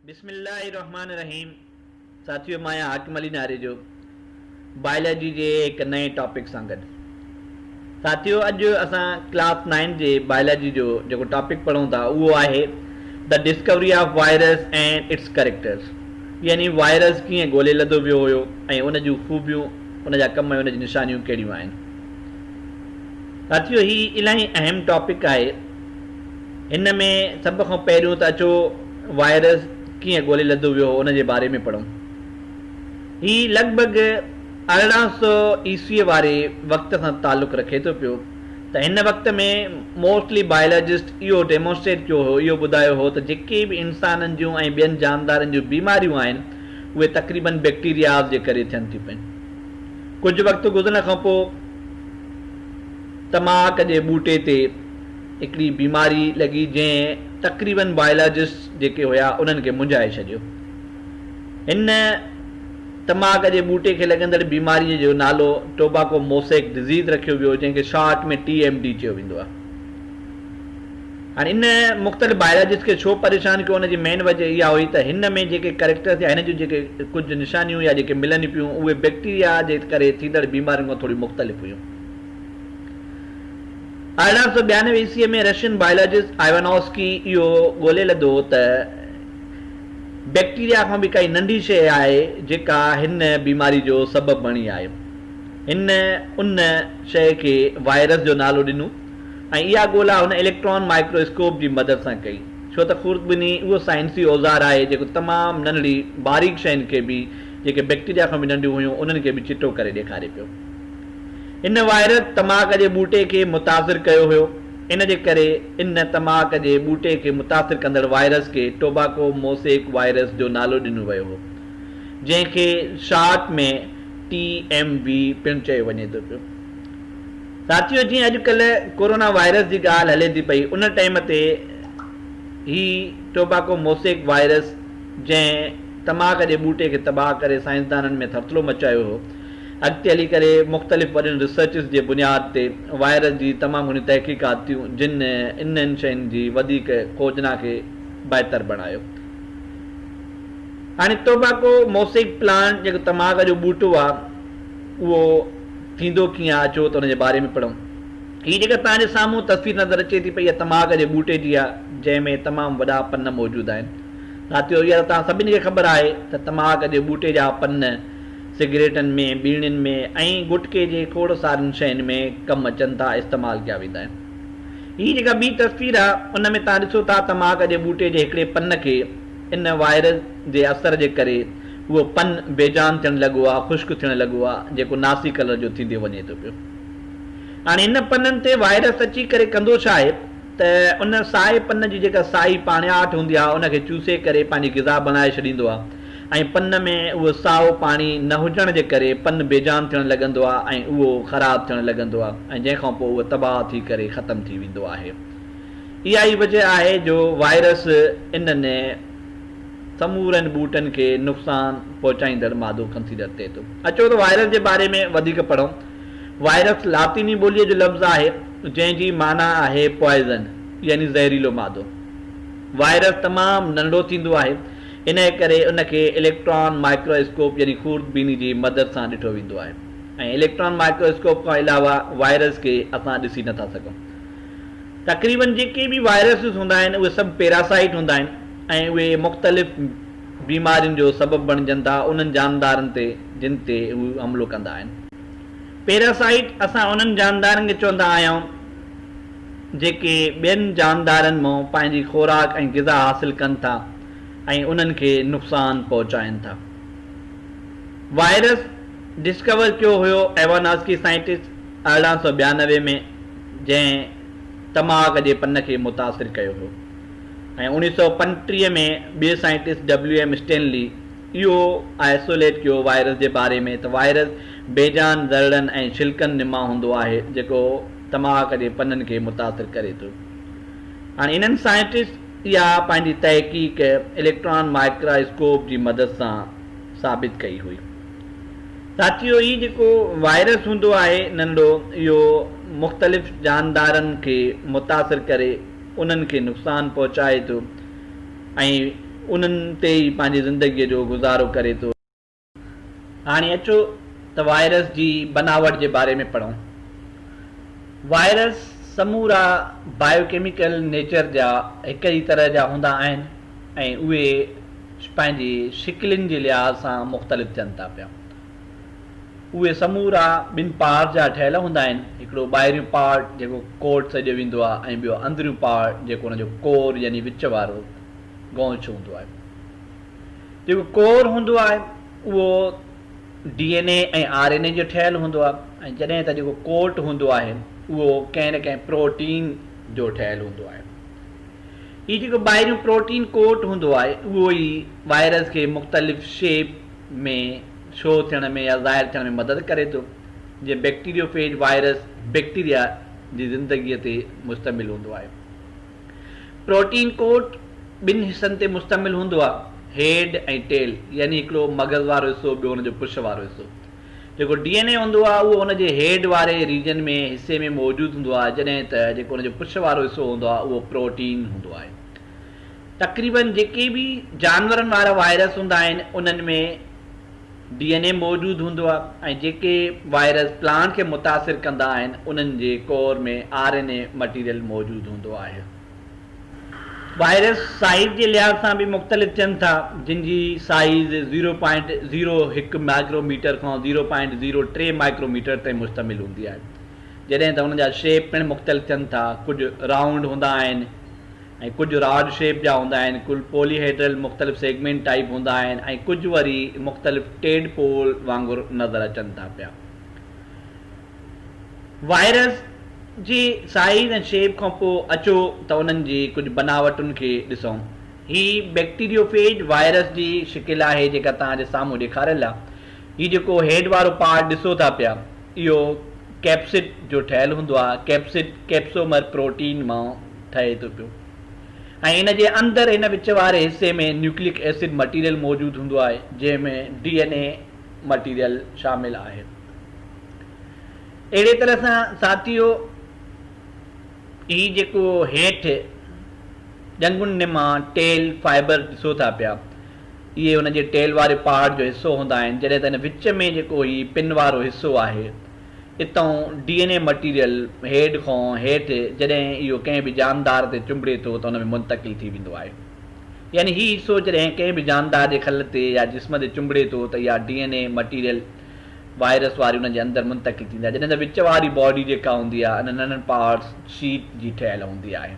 بسم الله الرحمٰن الرحيم ساٿيو مان آهيان حاڪم علي ناريجو بائلاجي جي هڪ نئين ٽاپڪ سان گڏ ساٿيو اڄ اسان ڪلاس نائن جي بائلاجي جو جيڪو ٽاپڪ پڙهون ٿا اهو آهي the discovery of virus and its characters يعني وائرس ڪيئن ڳولي لڌو ويو هيو ۽ ان جون خوبيون ان جا ڪم ۽ ان جون نشانيون ڪهڙيون آهن ساٿيو هي الاهي اهم ٽاپڪ آهي هن ۾ سڀ کان پهريون ته اچو وائرس ڪيئن ڳولي لڌو ويو هو ان جي باري ۾ پڙهون. هي لڳ ڀڳ ارڙهن سؤ عيسويء واري وقت سان تعلق رکي ٿو پيو ته هن وقت ۾ موسٽلي بائلاجسٽ اهو ڊيمونسٽريٽ ڪيو هو اهو ٻڌايو هو ته جيڪي به انسانن جون ۽ ٻين جاندارن جون بيماريون آهن اهي تقريبن بيڪٽيرياز جي ڪري ٿين ٿيون پين. ڪجهه وقت گذرڻ کان پوء تماڪ جي ٻوٽي تي هڪڙي بيماري لڳي جنهن تقريبن بايولاجسٽس جيڪي هيا انهن کي منجهائي ڇڏيو. هن تماڪ جي ٻوٽي کي لڳندڙ بيماريء جو نالو Tobacco Mosaic Disease رکيو ويو جنهن کي شارٽ ۾ ٽي ايم ڊي چيو ويندو آهي. هاڻي ان مختلف بايولاجسٽس کي ڇو پريشان ڪيو ان جي مين وجه اها هئي ته هن ۾ جيڪي ڪريڪٽرس يا هن جون جيڪي ڪجهه نشانيون يا جيڪي ملن پيون اهي بيڪٽيريا جي ڪري ٿيندڙ بيمارين کان ٿوريون مختلف هيون. ارڙهن سؤ ٻيانوي عيسويء ۾ رشين بائيولاجسٽ آئيوانوسڪي اهو ڳولي لڌو ته بيڪٽيريا کان به ڪائي ننڍي شيء آهي جيڪا هن بيماري جو سبب بڻي آهي. هن ان شيء کي وائرس جو نالو ڏنو ۽ اها ڳولا هن اليڪٽران مائڪرو اسڪوپ جي مدد سان ڪئي ڇو ته خوردبيني اهو سائنسي اوزار آهي جيڪو تمام ننڍڙي باريڪ شين کي به جيڪي بيڪٽيريا کان به ننڍيون هيون انهن کي به چٽو ڪري ڏيکاري پيو. ان وائرس تماڪ جي ٻوٽي کي متاثر ڪيو هيو، ان جي ڪري ان تماڪ جي ٻوٽي کي متاثر ڪندڙ وائرس کي ٽوباڪو موسيڪ وائرس جو نالو ڏنو ويو هو، جنهن کي شارٽ ۾ TMV پڻ چيو وڃي ٿو پيو. ساٿيو جيئن اڄڪلهه ڪورونا وائرس جي ڳالهه هلي ٿي پئي، ان ٽئيم تي هي ٽوباڪو موسيڪ وائرس جنهن تماڪ جي ٻوٽي کي تباهه ڪري سائنسدانن ۾ ٿرٿلو مچايو هو، اڳتي هلي ڪري مختلف وڏين ريسرچز جي بنياد تي وائرس جي تمام گهڻيون تحقيقات ٿيون جن انهن شين جي وڌيڪ کوجنا کي بهتر بڻايو. هاڻي ٽوباڪو موسيڪ پلانٽ جيڪو تماڪ جو ٻوٽو آهي اهو ٿيندو ڪيئن آهي اچو ته ان جي باري ۾ پڙهون. هي جيڪا توهان جي سامهون تصوير نظر اچي ٿي پئي اها تماڪ جي ٻوٽي جي آهي جنهن ۾ تمام وڏا پن موجود آهن. ساٿيو اها ته توهان سڀني کي خبر آهي ته تماڪ جي ٻوٽي جا پن سگريٽن ۾، ٻيڻين ۾ ۽ گٽڪي جي کوڙ سارين شين ۾ ڪم اچن ٿا، استعمال ڪيا ويندا آهن. هي جيڪا ٻي تصوير آهي، ان ۾ توهان ڏسو ٿا تماڪ جي ٻوٽي جي هڪڙي پن کي ان وائرس جي اثر جي ڪري اهو پن بي جان ٿيڻ لڳو آهي، خشڪ ٿيڻ لڳو آهي، جيڪو ناسي ڪلر جو ٿيندي وڃي ٿو پيو. هاڻي ان پنن تي وائرس اچي ڪري ڪندو ڇا آهي ته ان سائي پن جي جيڪا سائي پاڻياٺ هوندي آهي، ان کي چوسي ڪري پنهنجي غذا بڻائي ڇڏيندو آهي. ۽ پن ۾ اهو سائو پاڻي نه هجڻ جي ڪري پن بيجان ٿيڻ لڳندو آهي ۽ اهو خراب ٿيڻ لڳندو آهي ۽ جنهن کان پوء اهو تباهه ٿي ڪري ختم ٿي ويندو آهي اها ئي وجه آهي جو وائرس انهن سمورن ٻوٽن کي نقصان پهچائيندڙ مادو ڪنسيڊر ٿئي ٿو اچو ته وائرس جي باري ۾ وڌيڪ پڙهون وائرس لاطيني ٻوليء جو لفظ آهي جنهن جي معنيٰ آهي پوائزن يعني زهريلو مادو وائرس تمام ننڍو ٿيندو آهي انهيء ڪري ان کي اليڪٽران مائڪرو اسڪوپ يعني خورد بيني جي مدد سان ڏٺو ويندو آهي ۽ اليڪٽران مائڪرو اسڪوپ کان علاوه وائرس کي اسان ڏسي نه ٿا سگهون. تقريباً جيڪي به وائرسز هوندا آهن اهي سڀ پيراسائيٽ هوندا آهن ۽ اهي مختلف بيمارين جو سبب بڻجن ٿا انهن جاندارن تي جن تي هو حملو ڪندا آهن. پيراسائيٽ اسان انهن جاندارن کي چوندا آهيون جيڪي ٻين جاندارن مان پنهنجي خوراڪ ۽ غذا حاصل ڪن ٿا. ۽ انهن کي نقصان پهچائين ٿا. وائرس ڊسڪور ڪيو هيو ايواناسڪي سائنٽسٽ ارڙهن سؤ ٻيانوي ۾ جنهن تماڪ جي پن کي متاثر ڪيو هيو ۽ اوڻيهه سؤ پنجٽيهه ۾ ٻئي سائنٽسٽ ڊبليو ايم اسٽينلي اهو آئسوليٽ ڪيو وائرس جي باري ۾ ته وائرس بيجان ذرڙن ۽ ڇلڪن نما هوندو آهي جيڪو تماڪ جي پنن کي متاثر ڪري ٿو هاڻي انهن سائنٽسٽ اها پنهنجي تحقيق اليڪٽران مائڪراسڪوپ جي مدد سان ثابت ڪئي هئي. ساٿيو هي جيڪو وائرس هوندو آهي ننڍو اهو مختلف جاندارن کي متاثر ڪري انهن کي نقصان پهچائي ٿو ۽ انهن تي ئي پنهنجي زندگي جو گذارو ڪري ٿو. هاڻي اچو ته وائرس جي بناوٽ جي باري ۾ پڙهون. وائرس سمورا بائيوڪيميڪل نيچر جا هڪ ئي طرح جا هوندا آهن ۽ اهي پنهنجي شڪلين جي لحاظ سان مختلف ٿين ٿا پيا. اهي سمورا ٻن پار جا ٺهيل هوندا آهن، هڪڙو ٻاهريون پار جيڪو ڪوٽ سڏيو ويندو آهي ۽ ٻيو اندريون پار جيڪو ان جو ڪور يعني وچ وارو گونچ هوندو آهي. جيڪو ڪور هوندو آهي اهو D N A ۽ R N A جو ٺهيل هوندو آهي ۽ جڏهن ته جيڪو ڪوٽ هوندو آهي اهو ڪنهن نه ڪنهن پروٽين جو ٺهيل هوندو آهي. هي جيڪو ٻاهريون پروٽين ڪوٽ هوندو آهي اهو ئي وائرس کي مختلف شيپ ۾ شو ٿيڻ ۾ يا ظاهر ٿيڻ ۾ مدد ڪري ٿو جيئن بيڪٽيريو فيج وائرس بيڪٽيريا جي زندگيء تي مشتمل هوندو آهي. پروٽين ڪوٽ ٻن حصن تي مشتمل هوندو آهي، هيڊ ۽ ٽيل، يعني هڪڙو مغز وارو حصو ٻيو ان جو پڇ وارو حصو. جيڪو ڊي اين اي هوندو آهي اهو ان جي هيڊ واري ريجن ۾ حصي ۾ موجود هوندو آهي جڏهن ته جيڪو ان جو پڇ وارو حصو هوندو آهي اهو پروٽين هوندو آهي. تقريبن جيڪي به جانورن وارا وائرس هوندا آهن انهن ۾ ڊي اين اي موجود هوندو آهي ۽ جيڪي وائرس پلانٽ کي متاثر ڪندا آهن انهن جي core ۾ R N A material موجود هوندو آهي. وائرس سائيز جي لحاظ سان به مختلف ٿين ٿا جن جي سائيز زيرو پوائنٽ زيرو هڪ مائڪرو ميٽر کان زيرو پوائنٽ زيرو ٽي مائڪرو ميٽر تائين مشتمل هوندي آهي جڏهن ته انهن جا شيپ پڻ مختلف ٿين ٿا ڪجهه رائونڊ هوندا آهن ۽ ڪجهه راڊ شيپ جا هوندا آهن، ڪل پولي هيڊرل مختلف سيگمينٽ ٽائيپ هوندا آهن ۽ ڪجهه وري مختلف ٽيڊ پول وانگر نظر اچن ٿا پيا. وائرس جي سائيز ۽ شيپ کان پوء اچو ته انهن جي ڪجهه بناوٽن کي ڏسون. هي بيڪٽيريوفيج وائرس جي شڪل آهي جيڪا توهان جي سامهون ڏيکاريل آهي. هي جيڪو هيڊ وارو پارٽ ڏسو ٿا پيا اهو ڪيپسڊ جو ٺهيل هوندو آهي. ڪيپسڊ ڪيپسومر پروٽين مان. ٺهي ٿو پيو ۽ ان جي اندر ان وچ واري حصي ۾ نيوڪليڪ ايسڊ مٽيريل موجود هوندو آهي جنهن ۾ ڊي اين اي مٽيريل شامل آهي اهڙي طرح سان ساٿيو هي جيڪو هيٺ ڄنگهن نما ٽيل فائبر ڏسو ٿا پيا اهي ان جي ٽيل واري پهاڙ جو حصو هوندا آهن جڏهن ته ان وچ ۾ جيڪو هي پن وارو حصو آهي اتئون D N A material head کان هيٺ جڏهن اهو ڪنهن به جاندار تي چنبڙي ٿو ته ان ۾ منتقل ٿي ويندو آهي يعني هي حصو جڏهن ڪنهن به جاندار جي کل تي يا جسم تي چنبڙي ٿو ته اها D N A material virus واري ان جي اندر منتقل ٿيندي آهي جڏهن ته وچ واري باڊي جيڪا هوندي آهي ان ننڍن پارٽس شيٽ جي ٺهيل هوندي آهي.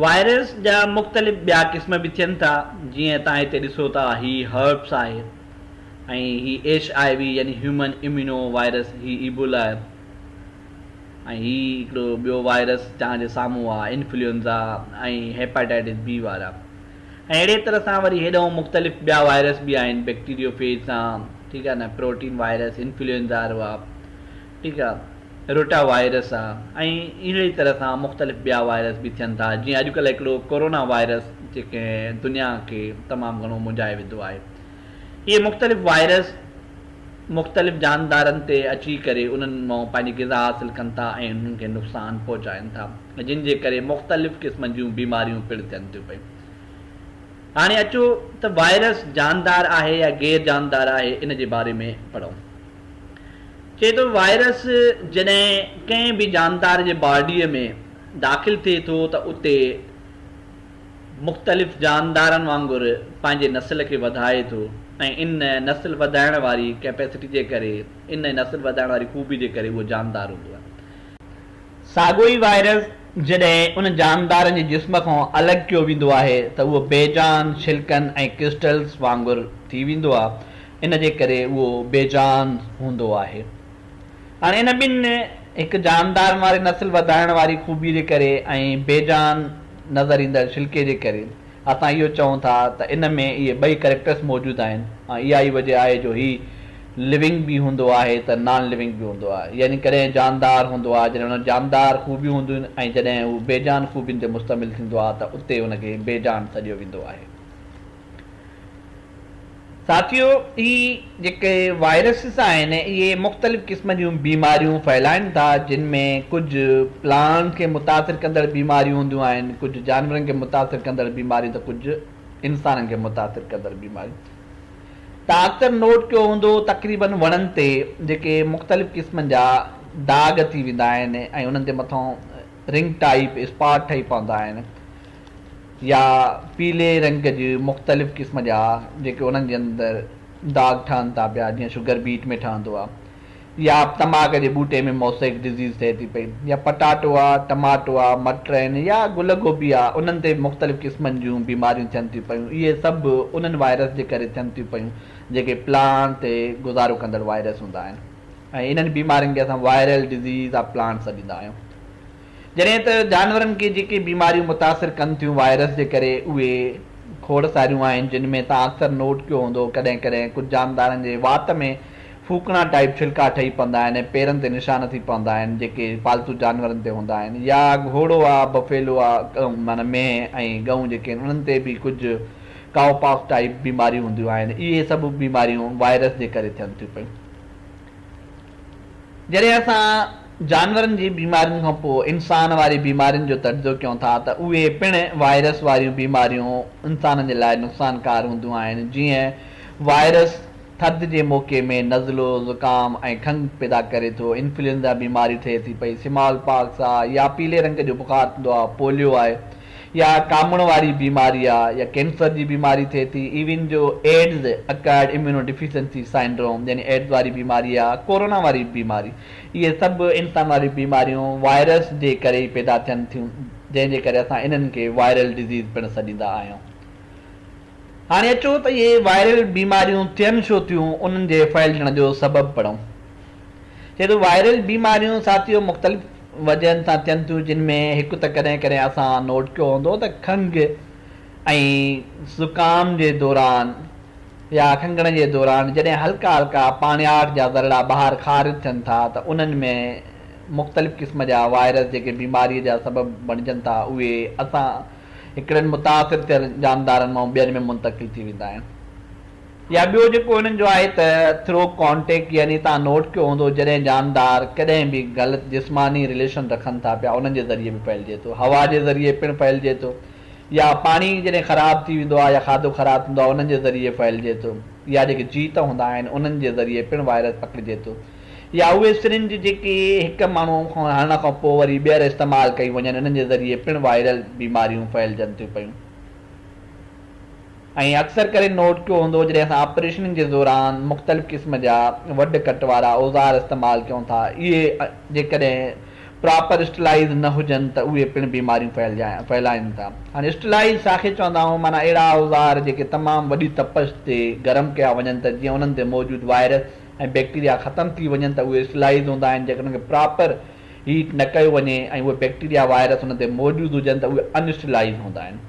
وائرس جا مختلف ٻيا قسم به ٿين ٿا جيئن تان هتي ڏسو ٿا هي هرپس آهي. ۽ هي ايڇ آء وي يعني هيومن اميونو وائرس، هي ايبولا ۽ هي هڪڙو ٻيو وائرس جهان جي سامهون آ، انفلوئنزا ۽ هيپاٽائٽس بي وارا ۽ اهڙي طرح سان وري هيڏانهن مختلف ٻيا وائرس به آهن بيڪٽيريو فيج سان ٺيڪ آ نه پروٽين وائرس، انفلوئنزا رو آ ٺيڪ آ، روٽا وائرس آ ۽ اهڙي طرح سان مختلف ٻيا وائرس به ٿين ٿا جيئن اڄڪلهه هڪڙو ڪورونا وائرس جيڪنهن دنيا کي تمام گهڻو منجهائي وڌو آهي. اهي مختلف وائرس مختلف جاندارن تي اچي ڪري انهن مان پنهنجي غذا حاصل ڪن ٿا ۽ انهن کي نقصان پهچائن ٿا جن جي ڪري مختلف قسمن جون بيماريون پڻ ٿين ٿيون پئي هاڻي اچو ته وائرس جاندار آهي يا غير جاندار آهي ان جي باري ۾ پڙهون چئي ٿو وائرس جڏهن ڪنهن به جاندار جي باڊي ۾ داخل ٿئي ٿو ته اتي مختلف جاندارن وانگر پنهنجي نسل کي وڌائي ٿو ۽ ان نسل وڌائڻ واري ڪيپيسٽي جي ڪري ان نسل وڌائڻ واري خوبي جي ڪري اهو جاندار هوندو آهي. ساڳيو ئي وائرس جڏهن ان جاندارن جي جسم کان الڳ ڪيو ويندو آهي ته اهو بي جان ڇلڪن ۽ ڪرسٽلز وانگر ٿي ويندو آهي ان جي ڪري اهو بي جان هوندو آهي. هاڻي ان ٻن هڪ جاندارن واري نسل وڌائڻ واري خوبي جي ڪري ۽ بي جان نظر ايندڙ شلڪي جي ڪري اسان اهو چئون ٿا ته ان ۾ اهي ٻئي ڪريڪٽرس موجود آهن ۽ اها ئي وجه آهي جو هي لونگ به هوندو آهي ته نان لونگ به هوندو آهي يعني ڪڏهن جاندار هوندو آهي جڏهن ان وٽ جاندار خوبيون هونديون آهن ۽ جڏهن هو بي جان خوبين تي مشتمل ٿيندو آهي ته اتي ان کي بي جان سڏيو ويندو آهي. ساٿيو هي جيڪي وائرسز آهن اهي مختلف قسم جون بيماريون ڦهلائن ٿا جن ۾ ڪجهه پلانٽس کي متاثر ڪندڙ بيماريون هونديون آهن ڪجهه جانورن کي متاثر ڪندڙ بيماريون ته ڪجهه انسانن کي متاثر ڪندڙ بيماريون تان اڪثر نوٽ ڪيو هوندو تقريبن وڻن تي جيڪي مختلف قسمن جا داغ ٿي ويندا آهن ۽ انهن تي مٿانهون رنگ ٽائيپ اسپاٽ ٺهي پوندا آهن يا پيلي رنگ جي مختلف قسم جا جيڪي انهن جي اندر داغ ٺهن ٿا پيا جيئن شگر بيٽ ۾ ٺهندو آهي يا تماڪ جي ٻوٽي ۾ موسيڪ ڊزيز ٿئي ٿي پئي يا پٽاٽو آهي ٽماٽو آهي مٽر آهن يا گل گوبي آهي انهن تي مختلف قسمن جون بيماريون ٿين ٿيون پيون اهي سڀ انهن وائرس جي ڪري ٿين ٿيون پيون جيڪي پلانٽ تي گذارو ڪندڙ وائرس هوندا آهن. ۽ انهن بيمارين کي اسان وائرل ڊزيز آف پلانٽ سڏيندا آهيون. جڏهن ته جانورن کي جيڪي بيماريون متاثر ڪن ٿيون وائرس جي ڪري اهي کوڙ ساريون آهن جن ۾ توهان اڪثر نوٽ ڪيو هوندو ڪڏهن ڪڏهن ڪجهه جاندارن جي وات ۾ ڦوڪڻا ٽائيپ ڇلڪا ٺهي پوندا آهن ۽ پيرن تي نشان ٿي پوندا آهن جيڪي پالتو جانورن تي هوندا آهن يا گهوڙو آ بفيلو آ ڳئون معنيٰ مينهن ۽ ڳئون جيڪي آهن انهن تي به ڪجهه ڪائو پاڪس ٽائيپ بيماريون هونديون آهن اهي سڀ بيماريون وائرس جي ڪري ٿين ٿيون پيون. جڏهن اسان جانورن جي بيمارين کان پوء انسان واري بيمارين جو تجزيو ڪيون ٿا ته اهي پڻ وائرس واريون بيماريون انسانن جي لاء نقصانڪار هونديون آهن جيئن وائرس ٿڌ جي موقعي ۾ نزلو، زڪام ۽ کنگهه پيدا ڪري ٿو، انفلوئنزا بيماري ٿئي ٿي پئي، سمال پاڪس آهي يا پيلي رنگ جو بخار ٿيندو آهي، پوليو آهي. يا ڪامڻ واري بيماري آ يا ڪينسر جي بيماري ٿئي ٿي ايون جو ايڊز، اڪائرڊ اميونو ڊيفيسنسي سائنڊروم، يعني ايڊز واري بيماري يا ڪورونا واري بيماري اهي سڀ انسان واريون بيماريون وائرس جي ڪري ئي پيدا ٿين ٿيون جنهن جي ڪري اسان انهن کي وائرل ڊزيز پڻ سڏيندا آهيون. هاڻي اچو ته اهي وائرل بيماريون ٿين ڇو ٿيون انهن جي ڦهلجڻ جو سبب پڙهون. چي ٿو وائرل بيماريون ساٿيو مختلف وجهن سان ٿين ٿيون جن ۾ هڪ ته ڪڏهن ڪڏهن اسان نوٽ ڪيو هوندو ته کنگهه ۽ زڪام جي دوران يا کنگهڻ جي دوران جڏهن هلڪا هلڪا پاڻياٺ جا ذرڙا ٻاهر خارج ٿين ٿا ته انهن ۾ مختلف قسم جا وائرس جيڪي بيماري جا سبب بڻجن ٿا اهي اسان هڪڙن متاثر ٿيل جاندارن مان ٻين ۾ منتقل ٿي ويندا آهن يا ٻيو جيڪو انهن جو آهي ته ٿرو ڪانٽيڪٽ يعني توهان نوٽ ڪيو هوندو جڏهن جاندار ڪڏهن به غلط جسماني رليشن رکن ٿا پيا انهن جي ذريعي به ڦهلجي ٿو هوا جي ذريعي پڻ ڦهلجي ٿو يا پاڻي جڏهن خراب ٿي ويندو آهي يا کاڌو خراب ٿيندو آهي انهن جي ذريعي ڦهلجي ٿو يا جيڪي جيت هوندا آهن انهن جي ذريعي پڻ وائرس پکڙجي ٿو. يا اهي سرنج جيڪي هڪ ماڻهو کان هڻڻ کان پوء وري ٻيهر استعمال ڪيون وڃن انهن جي ذريعي پڻ وائرل بيماريون ڦهلجن ٿيون پيون ۽ اڪثر ڪري نوٽ ڪيو هوندو جڏهن اسان آپريشنن جي دوران مختلف قسم جا وڍ ڪٽ وارا اوزار استعمال ڪيون ٿا اهي جيڪڏهن پراپر اسٽلائيز نه هجن ته اهي پڻ بيماريون ڦهلائين ٿا هاڻي اسٽلائيز ڇا کي چوندا آهيون معنيٰ اهڙا اوزار جيڪي تمام وڏي تپش تي گرم ڪيا وڃن ته جيئن انهن تي موجود وائرس ۽ بيڪٽيريا ختم ٿي وڃن ته اهي اسلائيز هوندا آهن جيڪڏهن ان کي پراپر هيٽ نه ڪيو وڃي ۽ اهي بيڪٽيريا وائرس ان تي موجود هجن ته اهي ان اسٽيلائيز هوندا آهن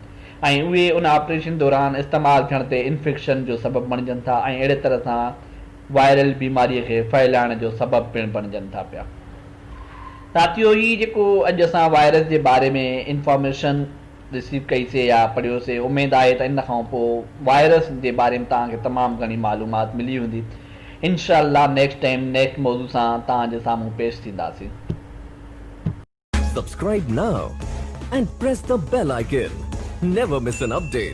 ۽ اهي ان آپريشن دوران استعمال ٿيڻ تي انفيڪشن جو سبب بڻجن ٿا ۽ اهڙي طرح سان وائرل بيماري کي ڦهلائڻ جو سبب پڻ بڻجن ٿا پيا ساٿيو هي جيڪو اڄ اسان وائرس جي باري ۾ انفارميشن رسيو ڪئي سي يا پڙهيو سي، اميد آهي ته ان کان پوء وائرس جي باري ۾ توهان کي تمام گهڻي معلومات ملي هوندي. انشاء الله نيڪسٽ ٽائيم نيڪسٽ موضوع سان توهان جي سامهون پيش ٿينداسين. Subscribe now and press the bell icon. Never miss an update.